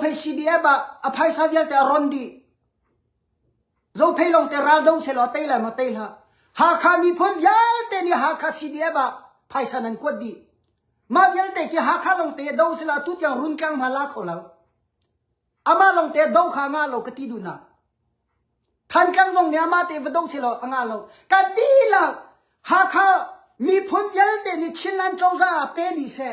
phei CDF ah a phaisa vialte a ron dih zo phei long te ral do se lo tei la ma tei la Hakha miphun vialte nih Hakha CDF ah phaisa nan kuat dih mah vialte ki Hakha long te do se la tu tiang run tlang ma la kho lo ama long te do kha nga lo ka ti du na than kang zong ne ama te va dong se lo anga lo ka ti la Hakha miphun vialte nih Chinland chongza pe ni se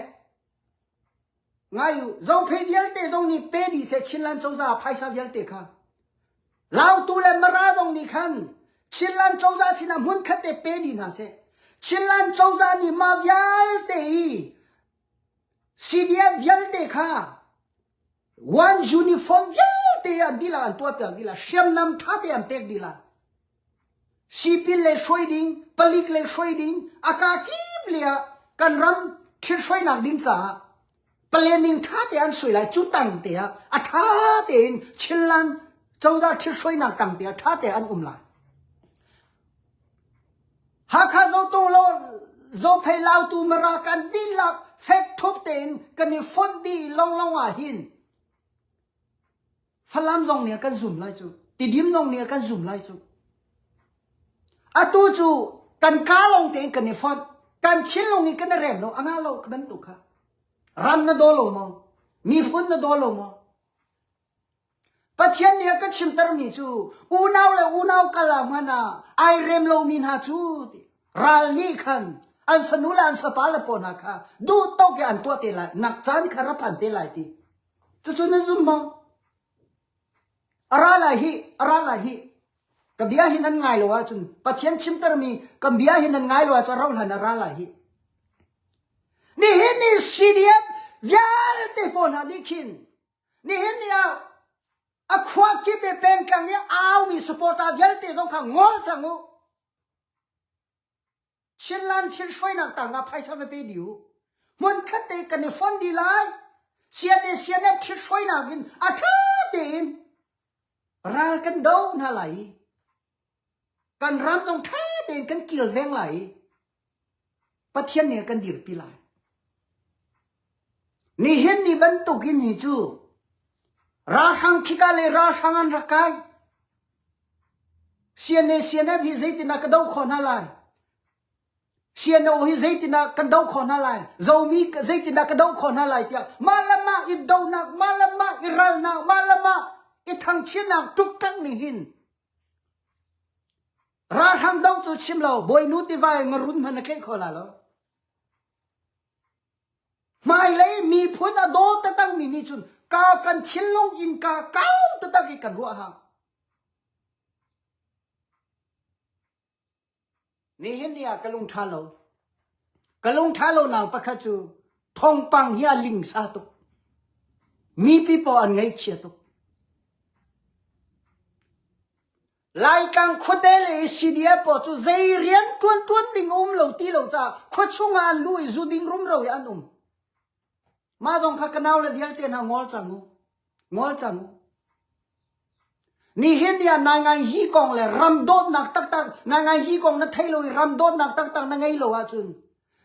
ngai u zophei vialte zong nih pe dih seh chinlan cozah phaisa vialte kha lautu le mara zong nih khan chinlan cozah sinah hmun khat te pe dih hna seh chinlan cozah nih mah vialte i CDF vialte kha one uniform vialte an dila an tuah piak dila hriamnam ṭha te an pek dila Sipin le hruai ding, palik le hruai ding a kaa kip lei ah kan ram ṭhithruainak ding caah planning ṭha te an suai lai. Cu tang te ah a ṭha tein Chinland cozah ṭhithruainak tang te ah ṭha te an um lai. Hakha Zotung lo Zophei Lautu Mara kan dihlak fek thup tein kan i fonh dih lawnglawng ah hin Falam zong nih kan zum lai cu. Tidim zong nih kan zum lai cu. Atu cu kan ka lawng tein kan i fon. Kan chin lawng i kan i rem lo. Anga lo ka bantuk kha. Ram na do lo maw? Miphun na do lo maw? Pathian nih a ka chimtermi cu unau le unau kal ah hman ah ai rem lomi hna cu ral nih khan an fanu le an fapa le paw hna kha duh tawk in an tuah te lai nak caan kha ra phan te lai ti Cucun an zum bang, a ra lai hi, a ra lai hi, ka bia hi nan ngai lo ahcun, Pathian chimtermi kan bia hi nan ngai lo ahcun rauhhlan ah ra lai hi. Nihin ni CDF vialte pawl hna nih khin, nihin ni ah a khua kip i pengtlang i aumi supporter vialte zong kha ngol cang u. Chianlan chin hruainak ta nga phaisa me pe diu. Mun khat te kan i fon di lai. Sian e sian e thit hruainak in a tha te in ral kan do hna lai. Kan ram dong tha tein kan kilveng lai. Pathian nih kan dirpi lai. Nihin ni bantukin hi cu ralhrang khika le ralhrang an rak kai. CNA CNF hi zeitinah ka doh khawh hna lai? CNO hi zeitinah kan doh khawh hna lai? Zomi zeitinah ka doh khawh hna lai tiah mah le mah i donak, mah le mah i ralnak, mah le mah i thangchinak ṭukṭak nih hin ralhrang do cu chim lo, bawinu tiva i ngarun hmanh na tleih kho la lo. Hmailei miphun a daw takmi nih cun ka kan thinlung innka kau taktak i kan ruah hang. Nihin ni ah ka lung ṭha lo. Ka lung ṭha lo nau pakhat cu thongpang hi a ling sa tuk. Mi pipaw an ngei chia tuk. Laitlang khuate le Sidia paw cu zei rian ṭuanṭuan ding a um lo ti lo caah khua chungah an lu i zu ding rumro hi an um. Mah zong kha kanau le vialte hna ngol cang u. Ngol cang u. Nihin ni ah na ngai hi kong le ram dawtnak taktak na ngai hi kong na thei lo i ram dawtnak taktak na ngei lo ahcun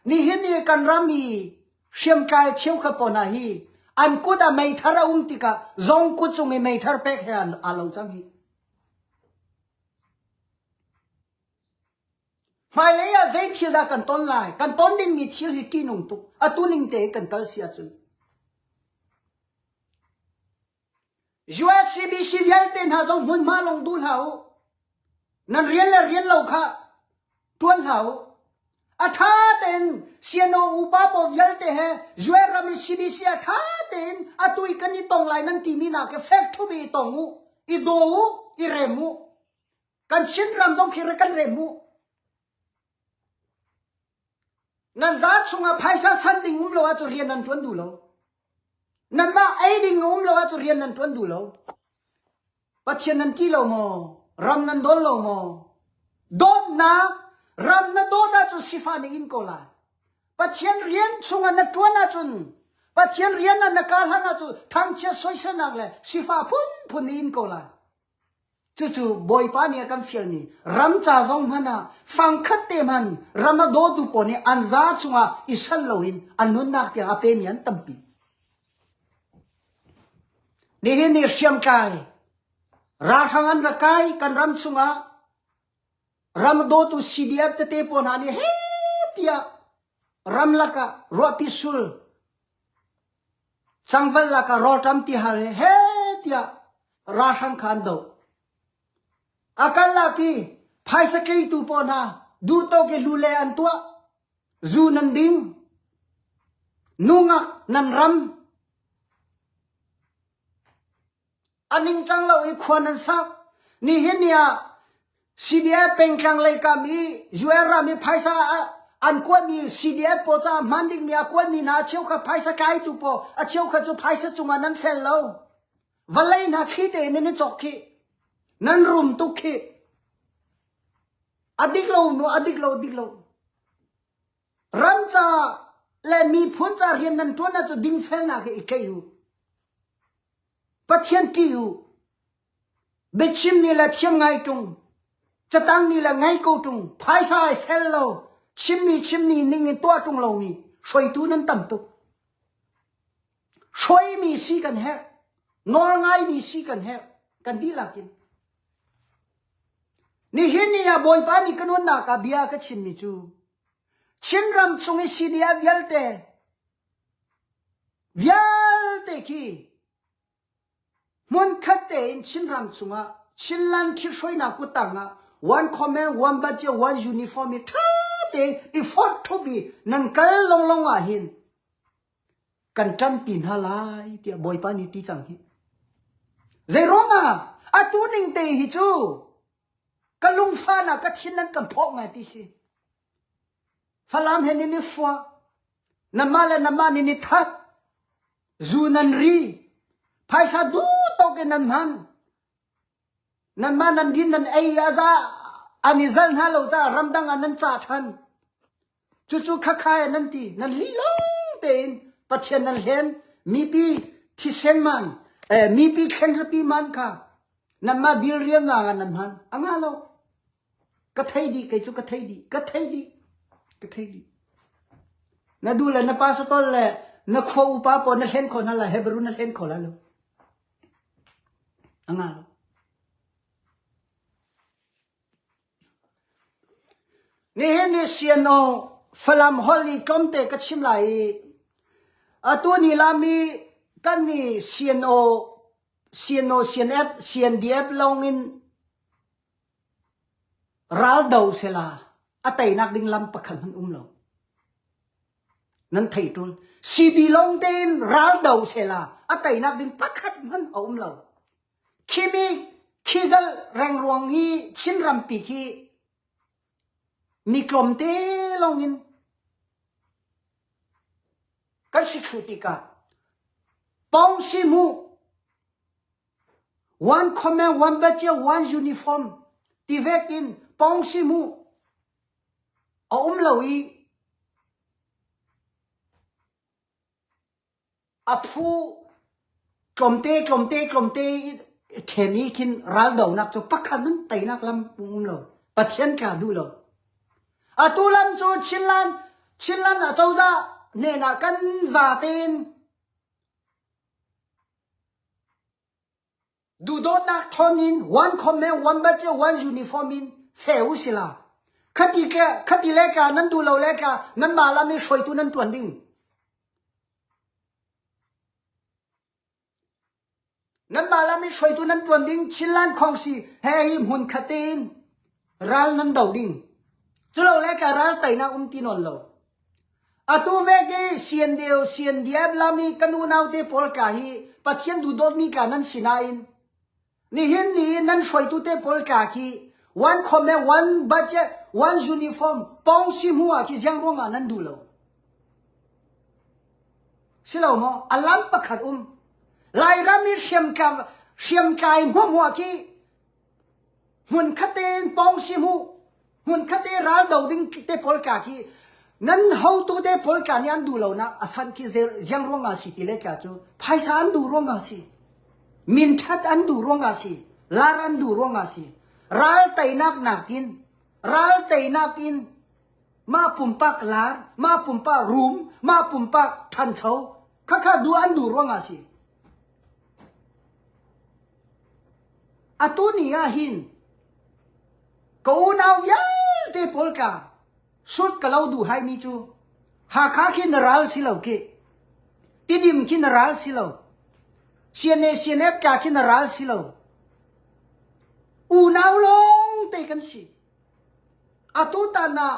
nihin ni kan ram i hriamtlai cheu kha paw hna hi an kut ah meithar a um tikah zong kut cung i meithar pek he an aa lo cang hi. Hmailei ah zei thil dah kan ton lai? Kan ton dingmi thil hi ṭihnung tuk, atu ning tein kan tal si ahcun. USCBC vialte hna zong hmunhma lawng duh hlah u. Nan rian le rian lo kha Tuan hlah u. A ṭha tein siano upa pawl vialte he Joel ram i CBC a ṭha tein atu i kan i tong lai nan timi nak i fek thubi i tong u. I daw u, i rem u. Kan Chin ram zong khi ra kan rem u. Nan za chungah phaisa san ding um lo ah cu rian nan ṭuan duh lo. Nanmah ei ding a um lo ahcun rian nan ṭuan duh lo. Pathian nan ṭih lo maw? Ram nan dawn lo maw? Dawtnak, ram na dawt ahcun sifah na in ko lai. Pathian rian chungah na ṭuan ahcun, Pathian rian ah na kah hlang ahcun thangchiat soiselnak le sifah phunphun na in ko lai. Cucu Bawipa nih a kan fialmi ram ca zong hmanh ah fangkhat te hman ram a dawtu pawl nih an za chungah i sal loin an nunnak tiang a pemi an tampi. Nihin ni hriamtlai ralhrang an ra kai kan ram chungah ram dawtu CDF tete pawl hna nih he tiah ramlak ah ruahpi sul Changval lak ah rawlṭam ti hal he he tiah ralhrang kha an doh. A karlak i phaisa tleitu pawl hna duhtawk i lu le an tuah. Zu nan ding. Nungak nan ram. A ningcang lo i khua nan sak. Nihin ni ah CDF pengtlang lei kam i US ram i phaisa ah an kuatmi CDF pawl caah hman dingmi a kuatmi hna cheukhat phaisa kaitu pawl a cheukhat cu phaisa cungah nan fel lo. Vawlei hna thli tein nan i cawk khih. Nan rum tuk khih. A dik lo, a dik lo, dik lo. Ram ca le miphun ca rian nan ṭuan ah cu dingfelnak he i tleih u. Pathian ṭih u. Biachim ni le thiam ngai ṭung. Catang ni le ngai ko ṭung. Phaisa ai fel lo. Chimmi chimni ning in tuah ṭung lomi hruaitu nan tam tuk. Hruaimi si kan herh. Nawl ngaimi si kan herh. Kan dihlak in. Nihin ni ah Bawipa nih ka nunnak ah bia ka chimmi cu, Chinram cung i sihniah vialte vialte khi hmunkhat tein Chinram cungah Chinland thihhruainak kuttang ah wan khawme, wan bajet, wan uniform i ṭha tein i fawt thup i nan kal longlong ah hin kan ṭanpi hna lai tiah Bawipa nih ti cang hi. Zeiruangah atu ning te hi cu Ka lungfan ah ka thin an kan phawh ngai ti si. Falam he nin i fua. Namah le namah nin i that. Zu nan ri. Phaisa duhtok in nan hman. Nanmah nan din nan ei a za. An i zal hna lo caah ramdang ah nan cah ṭhan. Cucu khakha in nan ti, nan lih lawng tein Pathian nan hlen mipi thisen man eh, mipi thlenrapi man kha nanmah dil riamnak ah nan hman anga lo ka thei di kei cu ka thei di ka thei di ka thei di na du le na pa satol le na kho upa po na hlen kho na la hebrew na hlen kho la lo anga lo Nihin hi Sianaw Falam holh i tlawmte ka chim lai i atu ni lam i kan nih Sianaw, Sianaw CNF, CNDF lawng in raldo sela a teinak ding lam pakhat hmanh um lo. Nan thei ṭul. CB lawng tein raldo sela a teinak ding pakhat hmanh a um lo. Khi nih khizal rengruang hi Chin rampi khi mi tlawmte lawng in kan si thlu tikah pong si mu wan khome wan bacia wan uniform ti vek in pong si mu a um lo i A phu tlawmte tlawmte tlawmte i ṭhen i khin raldonak cu pakhat nun teinak lam um lo, Pathian kaa duh lo. Atu lam cu Chinland Chinland acozah hnenah kan za tein duhdawtnak thawn in wan khom le wan bat cio wan uniform in fe u sila khati ke khati le ka nan du lo le ka nan ma lam i hruaitu nan tuan ding nan ma lam i hruaitu nan tuan ding chinlan khong si he hi hmun khate in Ral nan do ding. Culole ka ral teinak um ti nawn lo. Atu veke siandeo siandiep lami kanu naute pawl ka hi Pathian dudawtmi ka nan sinain nihin ni nan hruaitu te pawl ka khi one khome one budget one uniform pong simua ki jang ruanga nan du lo silo mo alam pakhat um lai rami hriam ka hriam kai hmu hmu ki hmun khaten pawng si mu hmun khatte ral do ding te pawl ka khi nan hotu te pawl ka nih an duh lo na asan khi ziang ruang a si ti le ka cu phaisa an duh ruang a si min that an duh ruang a si lar an duh ruang a si ral teinak nakin ral teinak in ma pumpak lar ma pumpak rum ma pumpak thancho khakha du an du ruang a si Atu ni ahhin ka unau vialte pawl ka hrut ka lo duh haimi cu Hakha khi na ral si lo kih. Tidim khi na ral si lo. Siane sianep ka khi na ral si lo. Unau lawng te kan si. Atu tan ah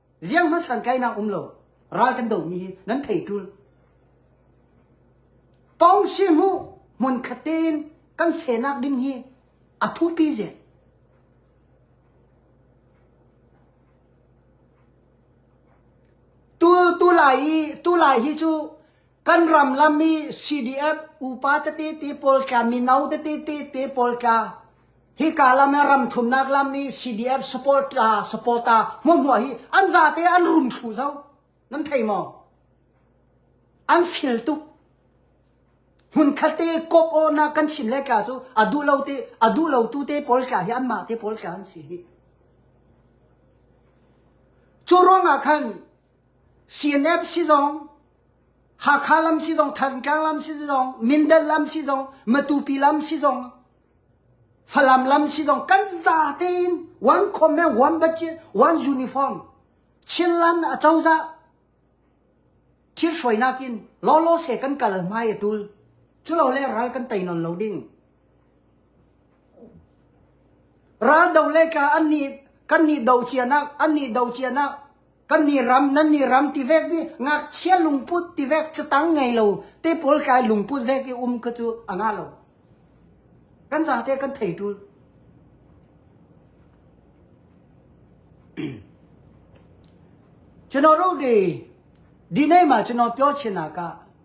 Ziang hmanh san kainak um lo. Ral kan domi hi nan thei tul. Pong si mu mun khatin kan senak ding hi a thupi je. Tu tu lai i tu lai hi chu kan ram lam mi CDF upa te te te pol ka mi nau te te te te pol ka Hika lam ah ram thumnak lam i CDF support la supporter hmuahhmuah hi an zate an rum thlu zo nan thei maw an fil tuk hmun khatte kop o na kan chim le ka cu a duh lo te a duh lo tu te pawl ka hi an mah te pawl ka an si hi cu ruang ah khan CNF si zong Hakha lam si zong Thantlang lam si zong Mindat lam si zong Matupi lam si zong Falam lam si zong kan za tein wan khom me wan baci wan uniform chin lan a cozah thil hruai nakin lo lo se kan kal mai a tul cu lo le ral kan tei non lo ding ral do le ka an ni kan ni do cia nak an ni do cia nak kan nih ram nan nih ram ti vek mi ngakchia lungput ti vek chu tang ngei lo te pawl kai lungput vek i um ka chu anga lo kan za te kan thei tul chino ro de dinai ma chino pyo china ka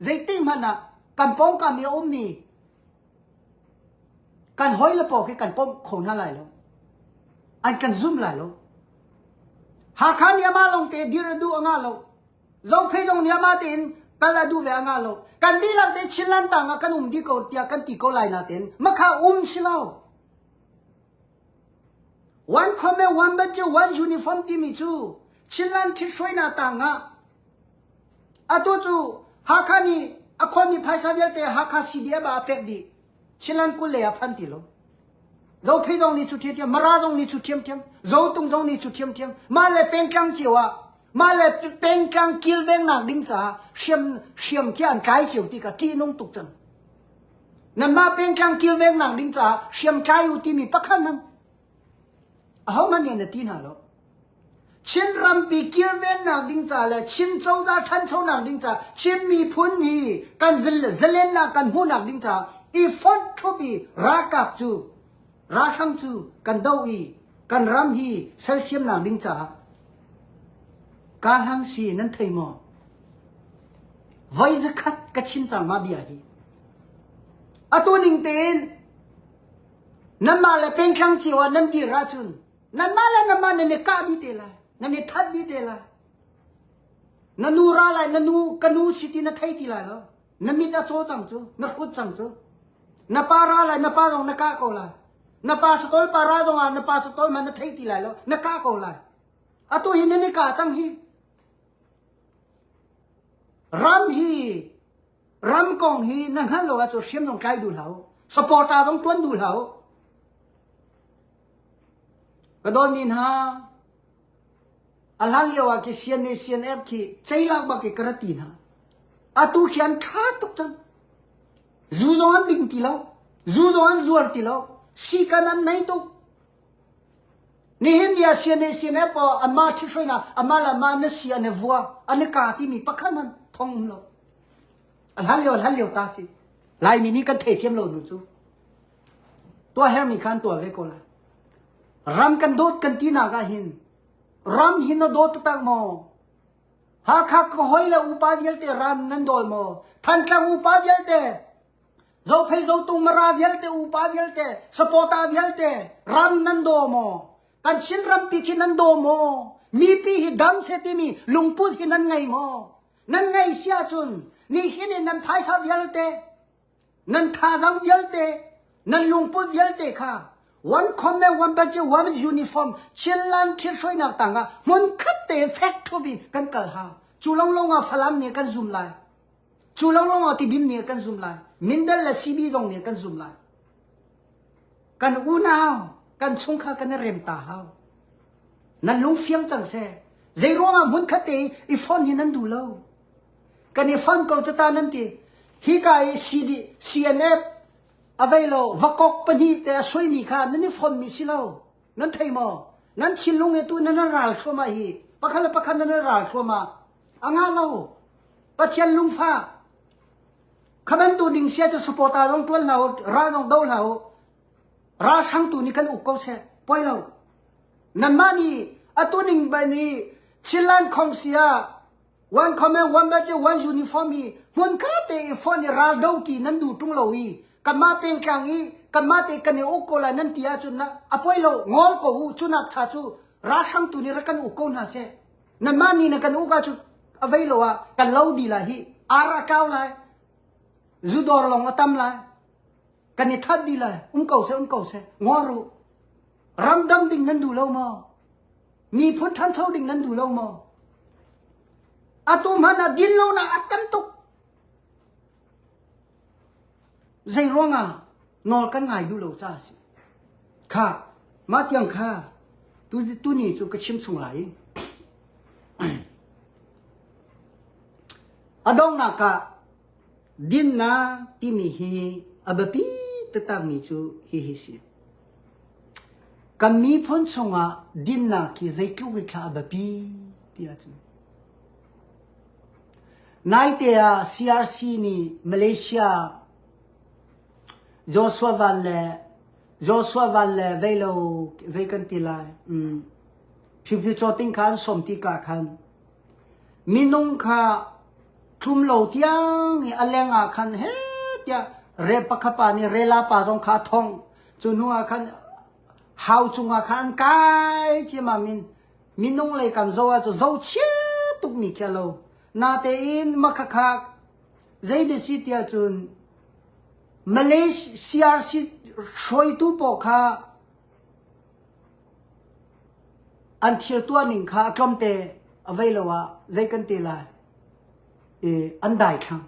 Zeitikhmanh ah kan pawngkam i a ummi kan hawi le paw khi kan pawm kho hna lai lo. An kan zum lai lo. Hakha niam ah lawng te dir a duh a ngah lo. Zophei zong niam ah tein kal a duh ve a ngah lo. Kan dihlak te Chinland tang ah kan um di ko tiah kan ti ko lai na tein makha um si lo. One khome one badge one uniform timi cu Chinland thit hruai na tang ah Atu cu Hakha nih a khuami phaisa vialte Hakha CDF ah a pek dih. Chinland kul lei ah phan ti lo. Zophei zong nih cu ṭhiamṭhiam, Mara zong nih cu ṭhiamṭhiam, Zotung zong nih cu ṭhiamṭhiam. Mah le pengtlang cio ah, mah le pengtlang kilvengnak ding caah hriam hriam khi an kai cio ti ka ṭihnung tuk cang. Nanmah pengtlang kilvengnak ding caah hriam tlai u timi pakhat hmanh ahohmanh nih an ti hna lo. Chin rampi kilvennak ding ca le Chin cozah ṭhanchonak ding ca, Chin miphun hi kan zil le zalennak kan hmuhnak ding ca i fonh ṭhup i ralkap cu ralhrang cu kan do i kan ram hi sersiamnak ding caah ka hlang si nan thei maw? Voi zakhat ka chim cang ma bia hi. Atu ning tein Nanmah le pengthlang cio ah nan dir ahcun nanmah le nanmah nan i kah dih te lai, nan i that dih te lai. Na nu ra lai, na nu ka nu si ti na thei ti lai lo. Na mit a caw cang cu, na hrut cang cu. Na pa ra lai, na pa zong na kah ko lai. Na pa satol pa ra zong ah na pa satol man na thei ti lai lo, na kah ko lai. Atu hi nan i kah cang hi. Ram hi Ram kong hi na hngalh lo ahcun hriam zong tlai duh hlah u. Supporter zong tuan duh hlah u. Ka dawn ni hna alhan lio ah ki CNA khi ceilak bak i kara ti hna atu khian tha tuk cun zu zong an ding ti lo zu zong an zuar ti lo sikan an nei tuk Nihin ni ah sianeh sianeh paw anmah ṭhithruainak anmah le anmah na si an i vua an i ka timi pakhat hmanh thong um lo. A hlan lio a hlan lio ta si. Laimi nih kan thei thiam lo nu cu. Tua her nih khan tua ve ko la. Ram kan dawt kan ti nak ah hin ram hi na dawt tak maw? Hakha ka hoi le upa vialte ram nan dol maw? Thantlang upa vialte Zophei zotu mara vialte, upa vialte, sapawta vialte ram nan daw maw? Kan Chin rampi khi nan daw maw? Mipi hi dam se timi lungput hi nan ngei maw? Nan ngei si ahcun nihin in nan phaisa vialte, nan thazang vialte, nan lungput vialte kha one comment one banci one uniform chilan thil hruainak tangah hmun khat te fek thup in kan kal ha. Cu lawnglawng ah Falam nih kan zum lai. Cu lo lawngah tibim nih kan zum lai. Mindal le sibi zong nih kan zum lai. Kan unau, kan chungkhar kan i rem ta hau. Nan lung fiang cang seh. Zei ruangah hmun khat te i fon hi nan duh lo. Kan i fon ko cata nan ti. Hi ka i CD, CNF, availo, vakok pahnih te a suaimi kha nan i fonmi si lo. Nan thei maw? Nan thinlung hi tu nan ral thluamah hi pakhat le pakhat nan ral thluamah a ngah lo pathian lungfa khamen tu ning sia cu supporta dong tuan hlau ra dong do hlau ra sang tu ni kan uk ko se poi lo nan ma ni atu ning ba ni chilan khong sia wan comment wan baje wan uniform hi mun ka te i phone ni ral do ki nan du tung lo i kanma peng tlang i kanma te kane uk ko la nan tia chu na apoi lo ngol ko hu chu nak cha chu ra sang tu ni ra kan uk ko na se nanmah ni na kan uka cu avei lo ah kan lo di lai hi ara kau lai zudor long atam lai kan i that di lai um ko se um ko se ngo ru ramdam ding nan du lo mo mi phun than cho ding nan du lo mo atum hana din lo na atam tuk zei ruanga nawl kan ngai duh lo ca a si kha mah tiang kha tu tu ni cu ka chim chung lai a donghnak ah dinnak timi hi a biapi taktakmi cu hihi si kan miphun chungah dinnak hi zeitluk hi thla a biapi ti ahcun naite ah CRC nih Malaysia Joshua val le Joshua val le vei lo zei kan ti lai? Um, phihphihcaw ting khan sawm tika khan minung kha thlum lo tiang i a leng ah khan he tiah re pakhapa nih rela pa zong kha thong cu hnu ah khan hau cungah khan kai cima min minung lei kan zo ah cu zo chia tuk mi khi lo natein makhakha Zei na si ti ahcun Malaysia hruaitu pawl kha an thil tuah ning kha tlawmte avei lo ah zei kan ti lai i an dai thlang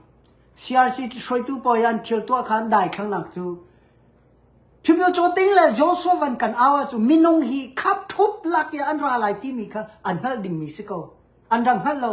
CRC hruaitu pawl an thil tuah kha an dai thlang nak cu phimyo chaw ting le Joshua van kan awa cu minung hi khap thup lak ya an ra lai ti mi kha an hnal ding mi si ko an rang hnal lo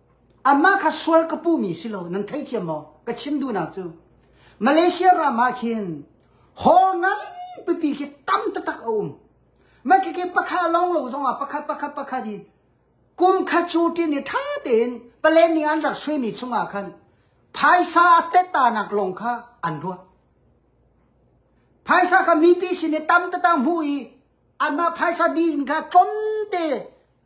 Amah kha sual ka puhmi si lo, nan thei thiam maw? Ka chim duhnak cu Malaysia ram ah khin hall ngan pipi khi tam tatak a um. Mai ke ke pakha long lo zong ah pakhat pakhat pakhat in kum kha cu tin i tha tein palen ni an rak suaimi chungah khan phaisa a tettanak lawng kha an ruat. Phaisa kha mipi sin i tam tatang hmu i anmah phaisa din kha tlonte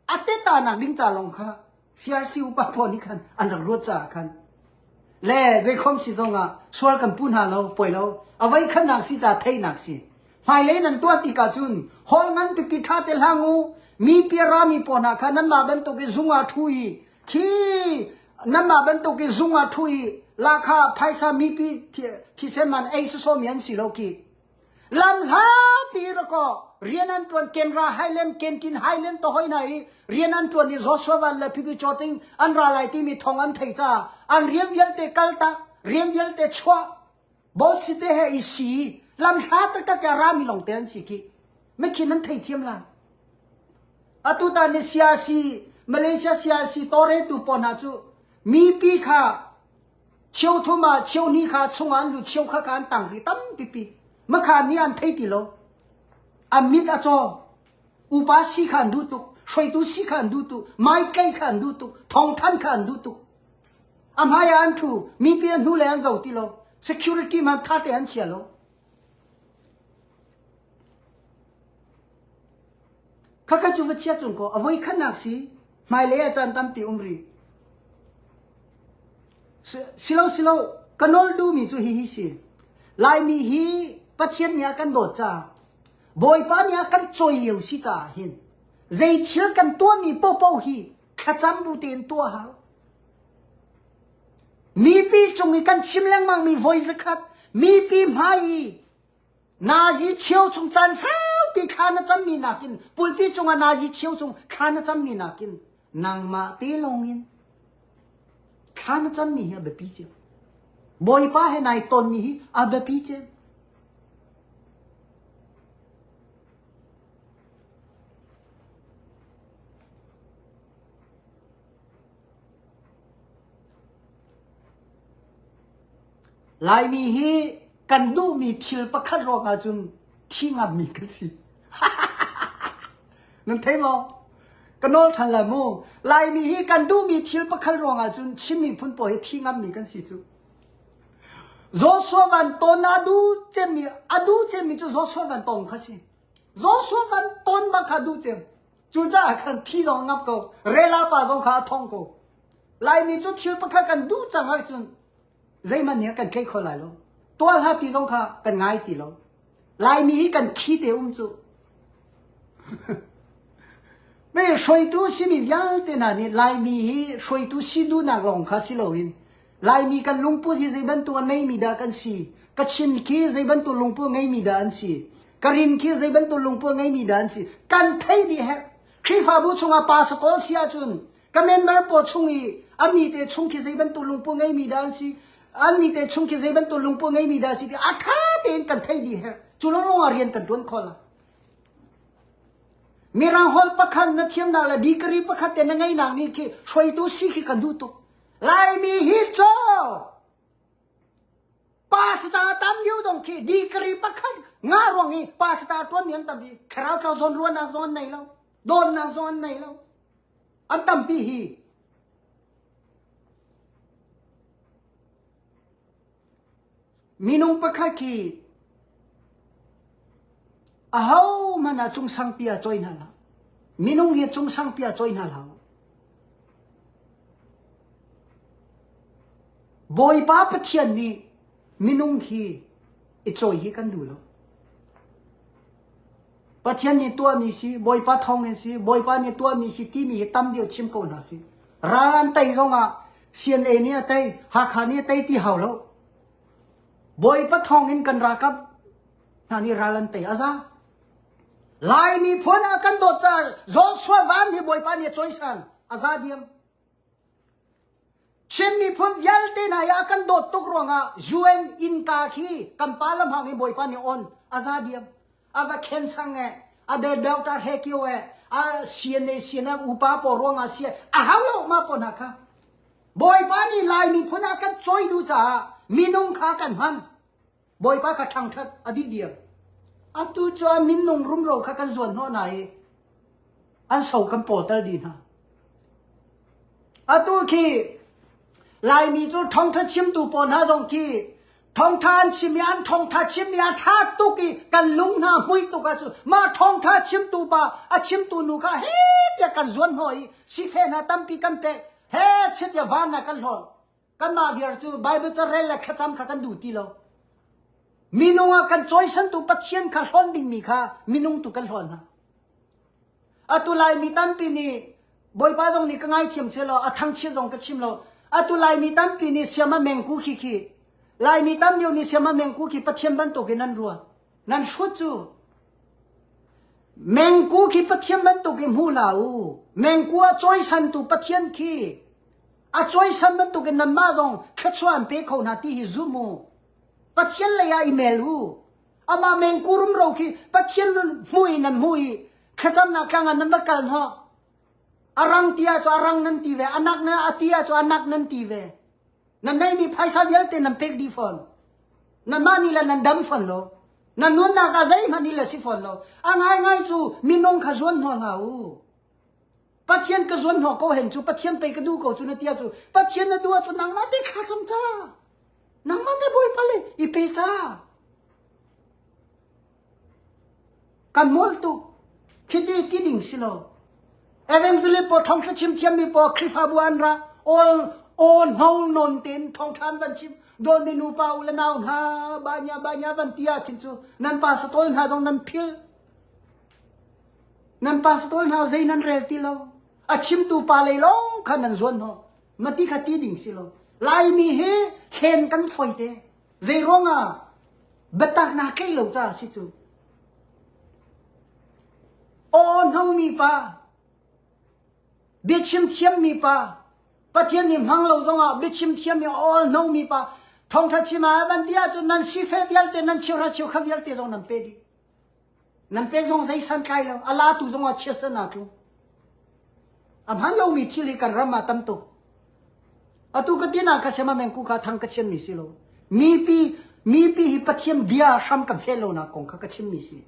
a tettanak ding ca lawng kha CRC upa pawl nih khan an rak ruat caah khan le zeikhom si zongah sual kan pu hna lo poi lo avei khannak si ca theihnak si hmailei nan tuah ti ka cun hol ngan pipi ṭha te hlang u mi piara mi pawl hna kha nanmah bantuk i zungah ṭhu i khi nanmah bantuk i zungah ṭhu i la kha phaisa mipi thisen man ei sosomi an si lo ki lam hlapi ra ko rian an tuan kenra highland kenkin highland to hoi na i rian an tuan i joshua van le phi cho ting an ra lai ti mi thong an thei cha an riam vial te kal ta riam vial te chwa bo si te he i si lam hla tak tak ya ra mi long te an si ki me khin an thei thiam la atu ta ni siasi malaysia siasi tore tu pon ha chu mi pi kha Cheuthum ah cheuhnih kha chungah an lut, cheu kha kha an tang dih tampipi. Makha ni an thei ti lo. An mit a caw. Upa si kha an duh tuk. Hruaitu si kha an duh tuk. Maitlei kha an duh tuk. Thongthan kha an duh tuk. A hmai ah an thu. Mipi an hnu le an zo ti lo. Security man tha te an chia lo. Khakha cu va chia cung kaw a voi khatnak si hmailei ah caan tampi um ri. Silo silo ka nol du mi cu hi hi si. Laimi hi Pathian nih a kan dawt ca Bawipa nih a kan coi lio si ca hin zei thil kan tuahmi popo hi thlacam bu tein tuah hau. Mipi cung i kan chim lengmangmi voi zakhat mipi hmai i nazi chio chung caan saupi thla na cammi nakin pulpi cungah nazi chio cung thla na cammi nakin nangmah te lawngin thla na cammi hi a biapi cem bawipa he nai tonmi hi a biapi cem Laimi hi kan duhmi thil pakhat ruangah cun thi ngammi kan si. Nan thei maw? Ka nawl ṭhan lai mu. Laimi hi kan duhmi thil pakhat ruangah cun Chin miphun pawl hi thi ngammi kan si cu. Joshua Van Ton a du cemmi a du cemmi cu Joshua Van Tong kha si. Joshua Van Ton bang kha du cem. Cucaah khan thi zong a ngap ko, rela pa zong kha a thong ko. Laimi cu thil pakhat kan duh cang ahcun zeihmanh nih a kan tlaih kho lai lo. Tuah hlah ti zong kha kan ngai ti lo. Laimi hi kan thi te um cu. me hruaitu simi vialte hna nih Laimi hi hruaitu si duhnak lawng kha si loin Laimi kan lungput hi zei bantuk a neimi dah kan si? Ka chin khi zei bantuk lungput ngeimi dah an si? Ka rin khi zei bantuk lungput ngeimi dah an si? Kan thei dih her. Khrihfabu chungah pasakol si ahcun ka member pawl chung i ami te chung khi zei bantuk lungput ngeimi dah an si? Anni te chung khi zei bantuk lungput ngeimi dah si ti a tha tein kan thei dih her. Cu lawng ah rian kan tuan khol la. Mirang hol pakhat na thiamnak le degree pakhat te na ngeinak ni khi hruaitu si khi kan duh tuk. Laimi hi caw pasta tam liu dong khi degree pakhat nga ruang i pasta tuan ni an tam hi kharau thau zon ruan nak zon nei lo don nak zon an nei lo an tam pi hi Minung pakhat khi ahohmanh ah cungsangpi ah cawi hna hlah. Minung hi cungsangpi ah cawi hna hlah. Bawipa Pathian nih minung hi i cawi hi kan duh lo. Pathian nih tuahmi si, Bawipa thawngin si, Bawipa nih tuahmi si timi hi tam deuh chim ko hna sih. Ral an tei zongah CNA nih a tei, Hakha nih a tei ti hau lo. Bawipa thawngin kan rakap hna nih ral an tei aza. Lai miphun a kan dawt caah Joshua Van hi Bawipa nih a cawisan. Aza diam. Chin miphun vialte hna i a kan dawt tuk ruangah UN innka khi kan parliament i Bawipa nih on a za diam. A va khen sang e, a de delta he kio e, a CNA CNF upa pawl ruangah si a hau lo ma pawl hna kha. Bawipa nih Lai miphun ah kan choi duh caah minung kha kan hman. bawipa kha ṭhangṭhat a dih diam atu cun minnung rumro kha kan zuan hnawh hna i an so kan pawtal dih hna atu khi laimi cu thongtha chimtu pawl hna zong khi thongtha an chim i an thongtha chim i a thla tuk i kan lung hna mui tuk ah cu ma thongtha chimtu pa a chimtu nu kha he tia kan zuan hnawh i si fe hna tampi kan pek he chit ya van na kan hlawl Kanmah viar cu Baibal carel le thlacam kha kan duh ti lo. Minung ah kan cawisantu Pathian kha hlawn dingmi kha minung tu kan hlawn hna. Atu lai mi tampi nih Bawipa zong nih ka ngaithiam che law a thangchia zong ka chim lo. Atu lai mi tampi nih siam a mengku khi khi lai mi tam lio nih siam a mengku khi Pathian bantuk in an ruat. Nan hrut cu mengku khi Pathian bantuk i hmu la u. Mengku a cawisantu Pathian khi a cuaisan bantukin nanmah zong khechua an pe kho hna ti hi zum u pathian lei ah i mel u amah mengkurum ro khi pathian nun hmu i nan hmu i khecamnak tlang ah nan va kal hnawh arang ti ah cu arang nan ti ve anak na ati ah cu anak nan ti ve nan nei mi phaisa vialte nan pek di fawn nanmah ni la nan dam fawn lo nan nunnak ah zeihmanh ni la si fawn lo a ngai ngai cu minung kha zuan hna hna u Pathian ka zuan hnawh ko hen cu Pathian pei ka duh ko cu na tia cu Pathian na duh ahcun nangmah te thla cam ca nangmah te bawipa le i pe ca kan mol tuk khiti ti ding si lo evangelist pawl thong thla chim thiam mi pawl khrifabu an ra all all no non ten thong tham van chim dol mi nu pa u le nau hna banya banya van tia thin cu nan pa satol hna zong nan phil Nan pastor hna zei nan rel ti lo. A chimtu pa lei lawng kha nan zuan hna. Mati kha ti ding si lo. Laimi he hlen kan foi te. Zei ruangah biataknak tlei lo ca si cu. Aw nongmi pa, biachim thiammi pa, Pathian ni hmang lo zongah biachim thiammi all nongmi pa, thongtha chima van dia cu nan si fe vialte nan chiu ra chiu kha vialte zong nan pe dih. Nan pek zong zei santlai lo. A latu zongah chiatsa na tlu. A hman lomi thili kan ram ah tam tuk. Atu ka tin ah ka sema meng ku ka thang ka chian mi si lo. Mipi mipi hi pathian bia hram ka fel lo na kong kha ka chim mi si.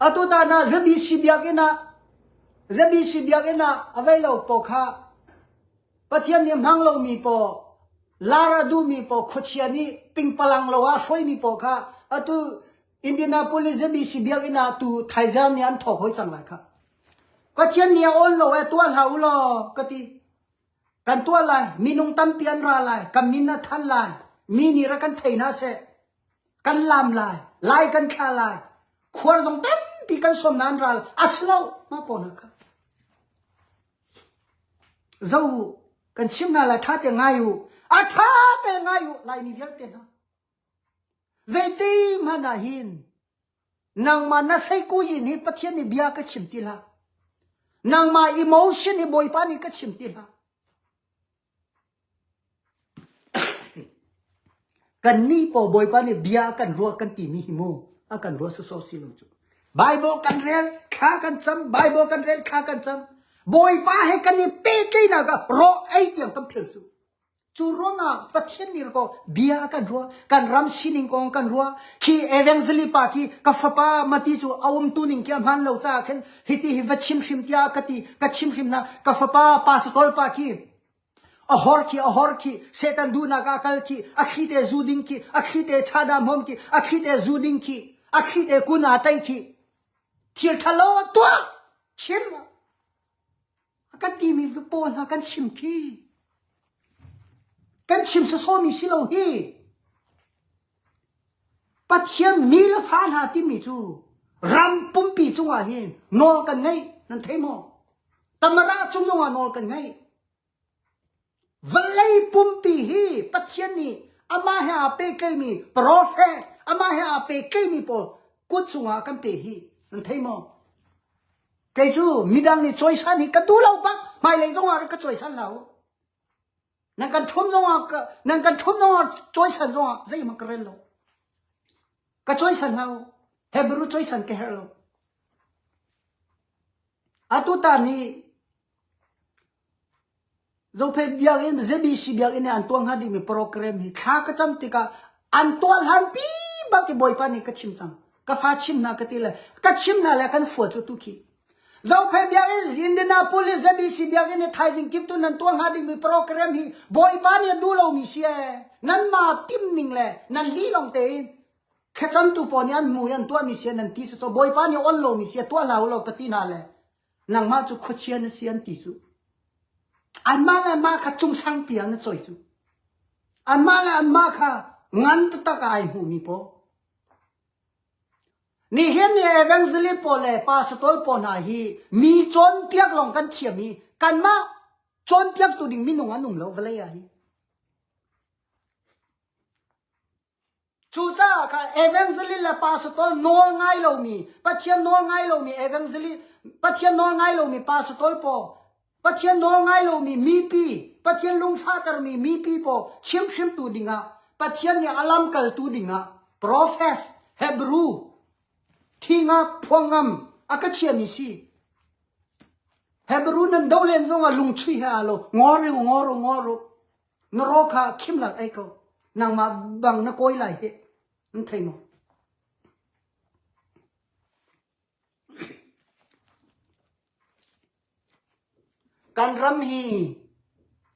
Atu ta na zabi si biak ina zabi si biak ina availo po kha Pathian nih a hmang lomi paw, lar a duhmi paw, khuachia nih pingpalang lo ah hruaimi paw kha atu Indianapolis embassy biakinn ah tu thaizar nih an thawk hoi cang lai kha. Pathian nih a awl lo e tuah hlah u law ka ti. Kan tuah lai, minung tampi an ra lai, kan min a than lai, mi nih ra kan thei hna seh. Kan lam lai, lai kan thla lai, khuar zong tampi kan som na an ral, as lo ma paw na ka. Zoh u, kan chim hna lai, ṭha tein ngai u. A ṭha tein ngai u, Laimi vialte hna. Zeitikhmanh ah hin nangmah na seikuhin hi Pathian nih bia ka chim ti hlah. Nangmah emotion hi Bawipa nih ka chim ti hlah. Kannih paw Bawipa nih bia a kan ruah kan timi hi mu a kan ruah sawsawh si lo cu. Bible kan rel, thla kan cam, Bible kan rel, thla kan cam. Bawipa he kan i pehtlaihnak ah ro ei tiang kan phel cu. Cu ruangah Pathian nih ko bia a kan ruah, kan ram sining kong kan ruah. Khi evangelist pa khi ka fapa Mati cu a umtu ning khi a hmaan lo caah khin Hiti hi va chim hrim tiah ka ti, ka chim hrim na, ka fapa pa si tol pa khi, a hor khi, a hor khi, setan duhnak a kal khi, a thli te zu ding khi, a thli te cha dam hom khi, a thli te zu ding khi, a thli te kun a tai khi, thil thalo tuah, chim. A kan timi pawl hna kan chim khi kan chim sawsawmi si lo hi Pathian mi le fa hna timi cu ram pumpi cungah hin nawl kan ngeih nan thei maw? Tamara cung zongah nawl kan ngeih. Vawlei pumpi hi Pathian nih amah he aa pehtlaimi profet, amah he aa pehtlaimi pawl kut cungah kan pe hi nan thei maw? Kei cu midang nih cawisan hi ka duh lo bak hmailei zongah rak ka cawisan hlah u. Nan kan ṭhum zongah ka- nan kan ṭhum zongah cawisan zongah zeihmanh ka rel lo. Ka cawisan hlah u. Hebrew cawisan ka herh lo. Atu ta nih Zophei biakinn ZBC biakinn i an tuah hnga dingmi program hi thla ka cam tikah an tuah hlanpi bak i Bawipa nih ka chim cang. Ka fa chim hna ka ti le ka chim hna le kan fua cu tu khi. Zophei biakinn Indianapolis ZBC biakinn i thaizing kip tun nan tuah hnga dingmi program hi Bawipa nih a duh lomi si ee. Nan ma tim ning le nan li lawng tein thlacamtu pawl nih an hmu i an tuahmi si nan ti si so Bawipa nih on lomi si a tuah hlah u law ka ti hna le nangmah cu khuachia na si an ti cu. Anmah le anmah kha cung sangpi ah na choi cu. Anmah le anmah kha ngan taktak ah ai hmuhmi paw. Nihin le evangelist pawl le pastor pawl hna hi mi cawnpiak lawng kan thiam i kanmah cawnpiaktu ding minung an um lo vawlei ah hi. Cucaah kha evangelist le pastor nawl ngai lomi Pathian nawl ngai lomi evangelist Pathian nawl ngai lomi pastor pawl Pathian nawl ngai lomi mipi Pathian lungfahtermi mipi pawl chimhhrimtu dingah Pathian nih a lamkaltu dingah profet Hebrew thing ah phuangam a ka chiami si. Hebrew nan doh len zongah lungchuih he aa lo. Ngor u, ngor u, ngor u. na rawl kha khimlang ei ko nangmah bang na kawi lai hi an thei maw kan ram hi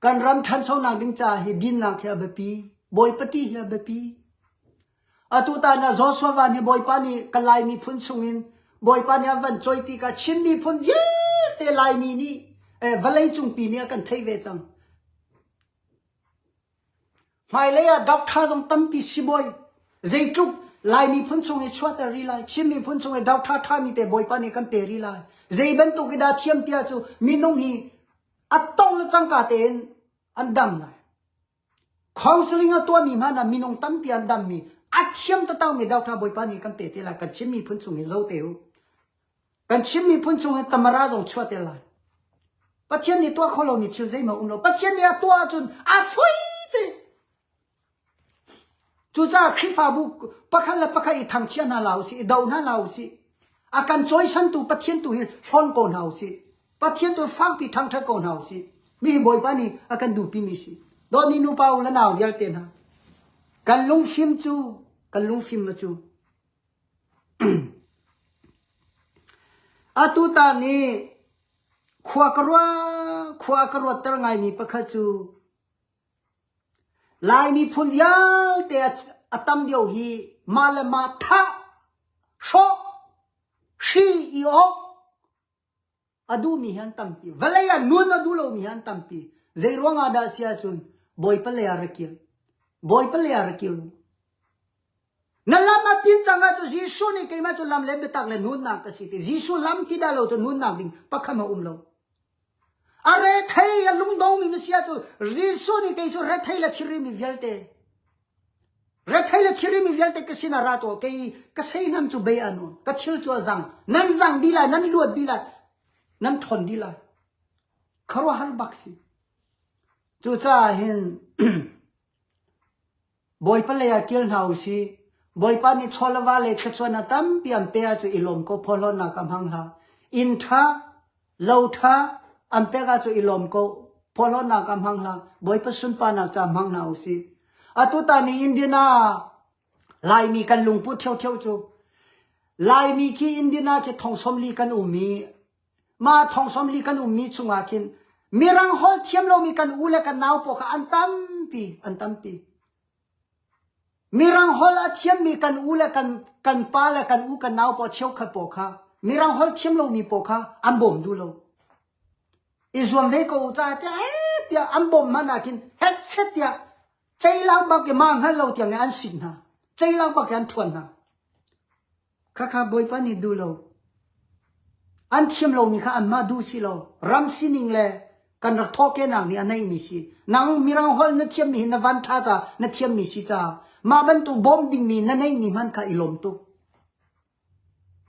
kan ram ṭhanchonak ding ca hi dinnak hi a biapi bawipati hi a biapi Atutan ah Joshua Van hi Bawipa nih Kalay miphun chungin Bawipa nih a van cawi ti ka Chin miphun vialte Laimi nih vawlei cungpi nih a kan thei ve cang. Hmailei ah Doctor zong tampi sibawi zeitluk Lai miphun chung i chuahter rih lai Chin miphun chung i Doctor ṭhami te Bawipa nih kan pe rih lai zei bantuk i dah thiam tiah cu minung hi a tong le cangka tein an dam lai Counselling a tuahmi hmanh ah minung tampi an dammi a thiam tatangmi Doctor Bawipa nih kan pe te lai. Kan Chin miphun chung hi zo te u. Kan Chin miphun chung hi tamara zong chuah te lai. Pathian nih tuah kho lomi thil zeimah um lo. Pathian nih a tuah ahcun a fui te. Cucaah Khrihfabu pakhat le pakhat i thangchia hna la usih, i do hna la usih. A kan cawisantu Pathian tu hi hlawn ko hna usih. Pathian tu fangpi ṭhangṭhat ko hna u sih. Mi Bawipa nih a kan duhpimi si. Dawhmi nupa u le nau vialte hna. Kan lungfim cu, kan lungfim cu. Atu ta nih khua ka ruat khua ka ruatter ngaimi pakhat cu Laimi phun vialte a tam dio hi ma le ma thah hrawh shi i awk A duhmi hi an tampi. Vawlei ah nun a duh lomi hi an tampi. Zei ruang ah dah si ahcun Bawipa lei ah ra kir. Bawipa lei ah ra kir. Na lam a pin cang ahcun Jesuh nih keimah cu lam le biatak le nunnak ka si ti. Jesuh lam ti dah lo cu nunnak ding pakhat a um lo. A rethei a lungdong mi na si ahcun Jesuh nih kei cu rethei le thirimi vialte Retheih le thirim i vialte ka sinah ra tuah kei ka seihnam cu bei an u ka thil cu a zang nan zang di lai nan luat di lai nan ṭhon di lai khuaruahhar bak si cucaah hin bawipa lei ah kil hna u sih bawipa nih chawlava le thluachuahnak tampi an pe ah cu i lawm ko phawlawnnak a hmang hlah inn ṭha lo ṭha an pek ah cu i lawm ko phawlhawnnak ah hmang hlah bawipa sunparnak ca hmang hna u sih atu tan i Indian ah Laimi kan lungput theutheu cu Laimi khi Indian ah khi thongsawm li kan um i ma thongsawm li kan um mi chungah khin mirang hol thiam lomi kan u le kan nau paw kha an tampi an tampi Mirang holh a thiammi kan u le kan pa le kan u kan nau paoh cheukhat paoh kha Mirang holh thiam lomi paoh kha an bawm duh lo. I zuam ve ko u ca tiah hei tiah an bawm hmanh ahkhin hetchet tiah ceilang bak i ma hngal lo tiang in an sik hna. Ceilang bak in an ṭhuan hna. Khakha Bawipa nih duh lo. An thiam lomi kha anmah duh si lo. Ram sining le kan rak thawhkenak nih a neihmi si. Nang mirang holh na thiammi hi na van tha ca, na thiammi si caah mah bantuk bawm dingmi na neihmi hmanh kha i lawm tuk.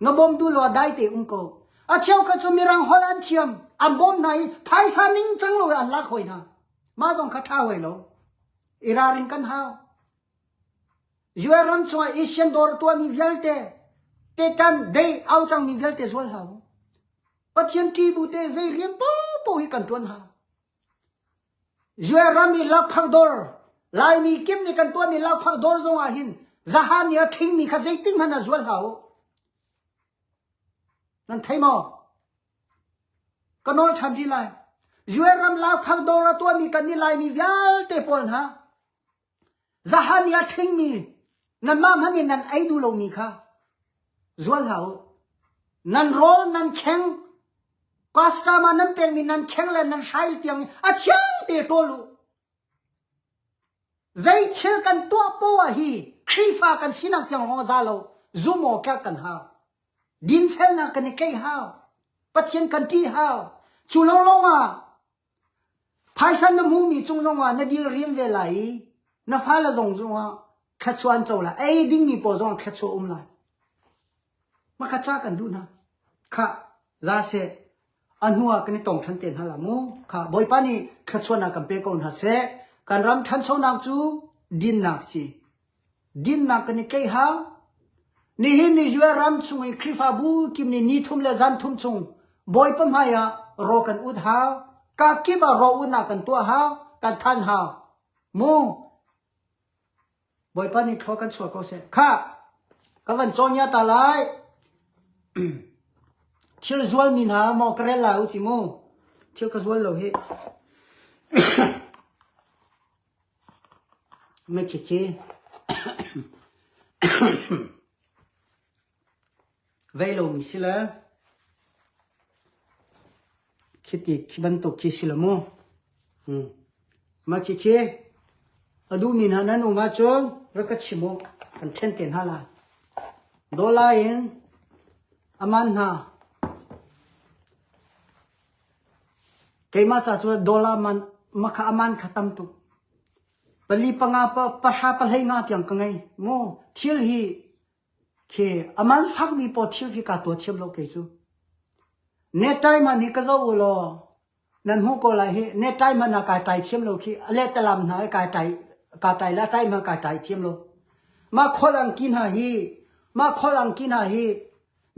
Nga bawm du lo dai te um ko. A cheu kha cu mirang holh an thiam. An bawm hna i phaisa ning cang lo an lak hoi hna. Mah zong kha tha hoi lo. Iraring kan hau. US ram chungah Asian dawr a tuahmi vialte tekan dei au cangmi vialte zual hlah u. Pathian thi bu te zei rian popo hi kan tuan ha. US ram i lakphak dawr Laimi kim ni kan tuahmi lakphak dawr zongah hin zahani a thingmi kha zeitin hman a zual hlah u. Nan thei maw? Ka nawl than ri lai. US ram lakphak dawr a tuahmi kan ni Laimi vialte pawl hna Zahani a ṭhingmi nanmah hmanh nih nan ei duh lomi kha zual hlah u. Nan rawl nan kheng, customer nan pekmi nan kheng le nan hrail tiang a thiangte ṭawl u. Zei thil kan tuah poah hi Khrihfa kan sinak tiang hawng za lo zum awktlak kan hau. Dinfelnak kan i tleih hau. Pathian kan ṭih hau. Cu lawnglawng ah Phaisa na hmumi cung zongah na dil riam ve lai i na fale zong cungah thluachuah an co lai. Ei dingmi pawl zongah thluachuah a um lai. Hmakhat ca kan duh hna. Khah, za seh, a hnuah kan i tong ṭhan te hna la mu. Khah, Bawipa nih thluachuahnak kan pe ko hna seh. Kan ram ṭhanchonak cu dinnak si. Dinnak kan i tleih hau. Nihin ni US ram chung i Khrihfabu kim ni ni thum le zan thum chung Bawipa hmai ah raw kan ut hau. Ka kip ah raw utnak kan tuah hau. Kan than hau. Mu Bawipa nih thlua kan chuah ko seh. Kha ka van cawnya ta lai. thil zual mi hna mo ka rel lai u ti mu. Thil ka zual lo hi. Veilawng ni si le khiti khi bantuk khi si lo mu. Mah khi khi a duhmi hna nan um ahcun rak ka chim u kan ṭhen te hna lai. Dollar in a man hna Keimah ca cu dollar man makha a man kha tam tuk. Pali panga pahra pahlei nga tiang ka ngei. Mu thil hi khi a man fakmi paw thil khi kaa tua thiam lo kei cu. Nettai man hi ka zoh u law nan hmuh ko lai hi nettai man ah kaa tai thiam lo khi a let talam hna i kaa tai kaa tai la tai hna kaa tai thiam lo. Mah khual ang ki hna hi mah khual ang ki hna hi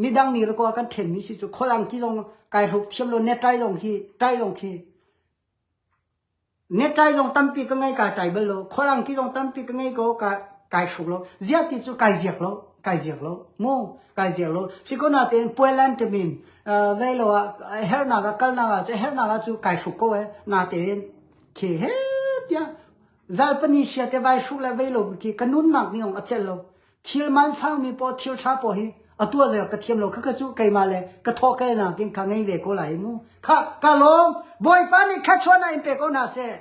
midang ni ko kan then mi si chu kholam ti zong kai hruk thiam lo net tai zong hi tai zong khi net tai zong tampi ka ngai ka tai bal lo kholam ti zong tampi ka ngai ko ka kai hruk lo zia ti chu kai ziak lo kai ziak lo mu kai ziak lo sikona ten puelan temin velo a her na ga kal na ga chu her na ga chu kai hruk ko e na ten khi he tia zal pani sia te vai hruk le velo ki kanun nak ni ong acel lo Thil mansangmi paw thil ṭha paw hi a tua zeo ka thiam lo kha ka cu keimah le ka thawhkelnak king kha ngei ve ko lai mu kha ka lawm bawipa nih kha chuana in pe ko hna seh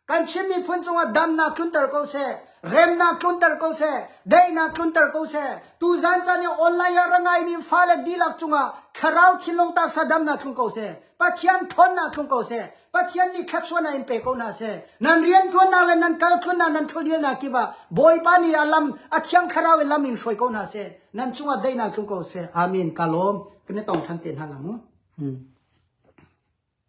kan chin miphun cungah damnak tlunter ko seh remnak tlunter ko seh daihnak tlunter ko seh tu zan chan i online ah rangai mi fale dilak cungah thlarau thinlung tak sa damnak tlung ko seh Pathian thawnnak tlung ko seh. Pathian nih thlatsuannak in pe ko hna seh. Nan rian tuannak le nan kal tlunnak nan thulhialnak kip ah Bawipa nih a lam a thiang thlarau in lam in hruai ko hna seh. Nan cungah daihnak tlung ko seh. Amen. Ka lawm. Ka ne tong than te hna lang. Hmm.